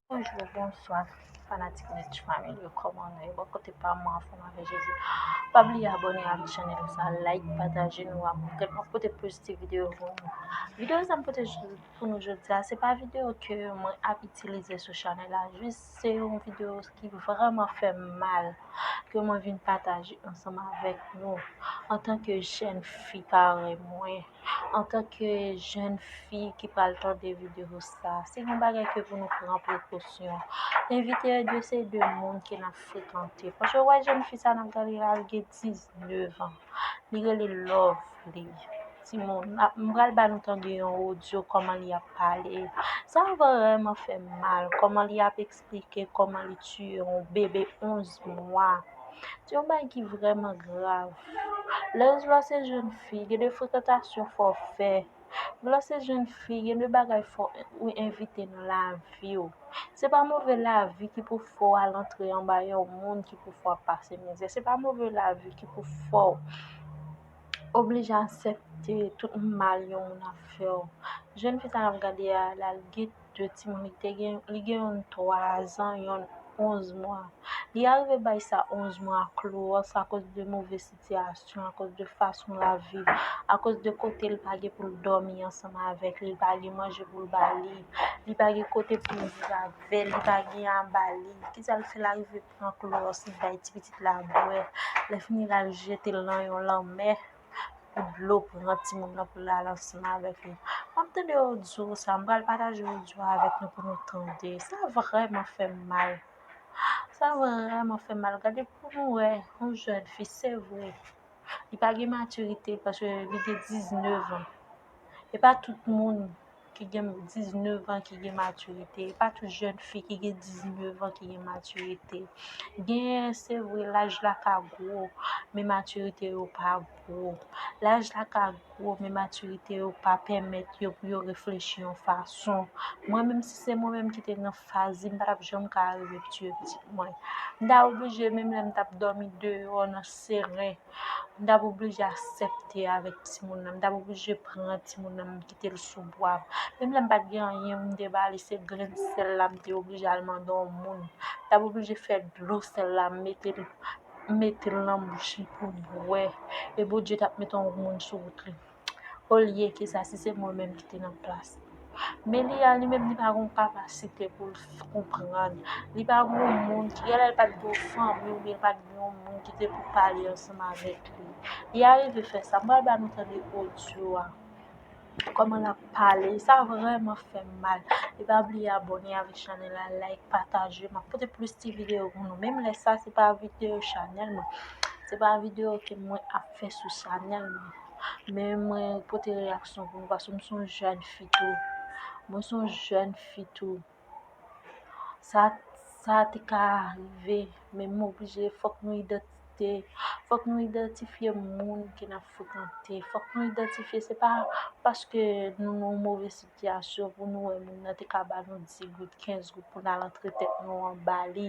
Bonjour, bonsoir, fanatik Nech Family yo koman nou yo bon kote pa mwen anfom avè Jezi. Pa bliye abone avè chanel sa, like, pataje nou a pou kèk mwen pote plus ti video pou nou. Video sa m pote pou nou jodi a, se pa video ke mwen ap itilize sou chanel la, jis Se yon video ki vreman fèm mal ke mwen vin pataje ansanm avèk nou. Antanke jèn fi parèy mwen, antanke jèn fi ki pral tande video sa, se yon bagay ke pou nou pran prekosyon. Envite yo dwe se de moun ke nap frekante. Paske ou wè jèn fi sa nap gade la, li gen 19 an. Li rele Lovelie. timoun m pral ba nou tande yon odyo kòman li ap pale sa vrèman fè m mal kòman li ap eksplike kòman li tiye yon bebe 11 mwa se yon bagay ki vrèman grav lè w lè w se jenn fi gen de frekantasyon fò w fè lè w se jenn fi gen de bagay fò ou evite nan lavi w se pa move lavi ki pou fè w al antre anba yon moun ki pou fè w ap pase mizè se pa move lavi ki pou fè w oblije asèpte tout mal yon moun ap fè w. Jèn fi sa n ap gade a, l al gen 2 timoun. Li te gen, li gen youn 3 zan, youn 11 mwa. Li arive bay sa 11 mwa a klowòs akoz de move sitiyasyon, akoz de fason l ap viv, akoz de kote l pa gen pou l dòmi ansanm avèk li, li pa gen manje pou l ba li, li pa gen kote pou l viv avè l, li pa gen a ba li. Ki sa l fè? L arive. pran klowòs li bay ti pitit la bwè. Lè fini l al jete l nan yon lanmè pou dlo pran timoun nan pou l al ansanm avèk li. M ap tande odyo sa, m pral pataje odyo a avèk nou pou nou tande. Sa vrèman fè m mal. Sa vrèman fè m mal. Gade pou nou wè yon jèn fi, se vre, li pa gen matirite paske li gen 19 an. E pa tout moun. ki gen 19 an ki gen matirite, e pa tout jèn fi ki gen 19 an ki gen matirite. Gen se vre laj la ka gwo, men matirite yo pa gwo. Laj la ka gwo, men matirite yo pa pèmèt yo pou yo reflechi yon fason. Mwen menm si se mwen menm ki te nan faz li, m pa t ap janm ka rive tiye pitit mwen. M ta oblije menm lè m t ap dòmi deyò nan seren, m t ap oblije asèpte avèk timoun nan, m t ap oblije pran timoun nan. mete l sou pwav. Menm lè m pa t gen anyen pou m te ba li, se grenn sèl la m te oblije al mande yon moun. M t ap oblije fè dlo sèl la m mete l m mete l nan bouch li pou l bwè. E Bondye t ap mete yon moun sou wout li. Olyeke sa, si se mwen menm ki te nan plas li. Men li a li menm li pa gen yon kapasite pou l konprann. Li pa gen yon moun ki gen lè l pa t gen yon fanmi oubyen l pa t gen yon moun ki te pou pale ansanm avèk li. Li arive fè sa. M pral ba nou tande odyo a. Koman lap pale sa vreman fem mal e pa bliye abone avk chanel la like pataje map pote plis ti video pou nou menm lè sa se pa video chanel mwen se pa video ke mwen ap fè sou chanel mwen men mwen pote reyaksyon pou nou paske m son jèn fi tou mwen son jèn fi tou. sa te ka rive men m oblije fòk nou idantifye fòk nou idantifye moun ke n ap frekante fòk nou idantifye se pa paske nou nan yon move sitiyasyon pou nou wè moun nan te ka ba nou di goud kenz goud pou n al antre tèt nou anba li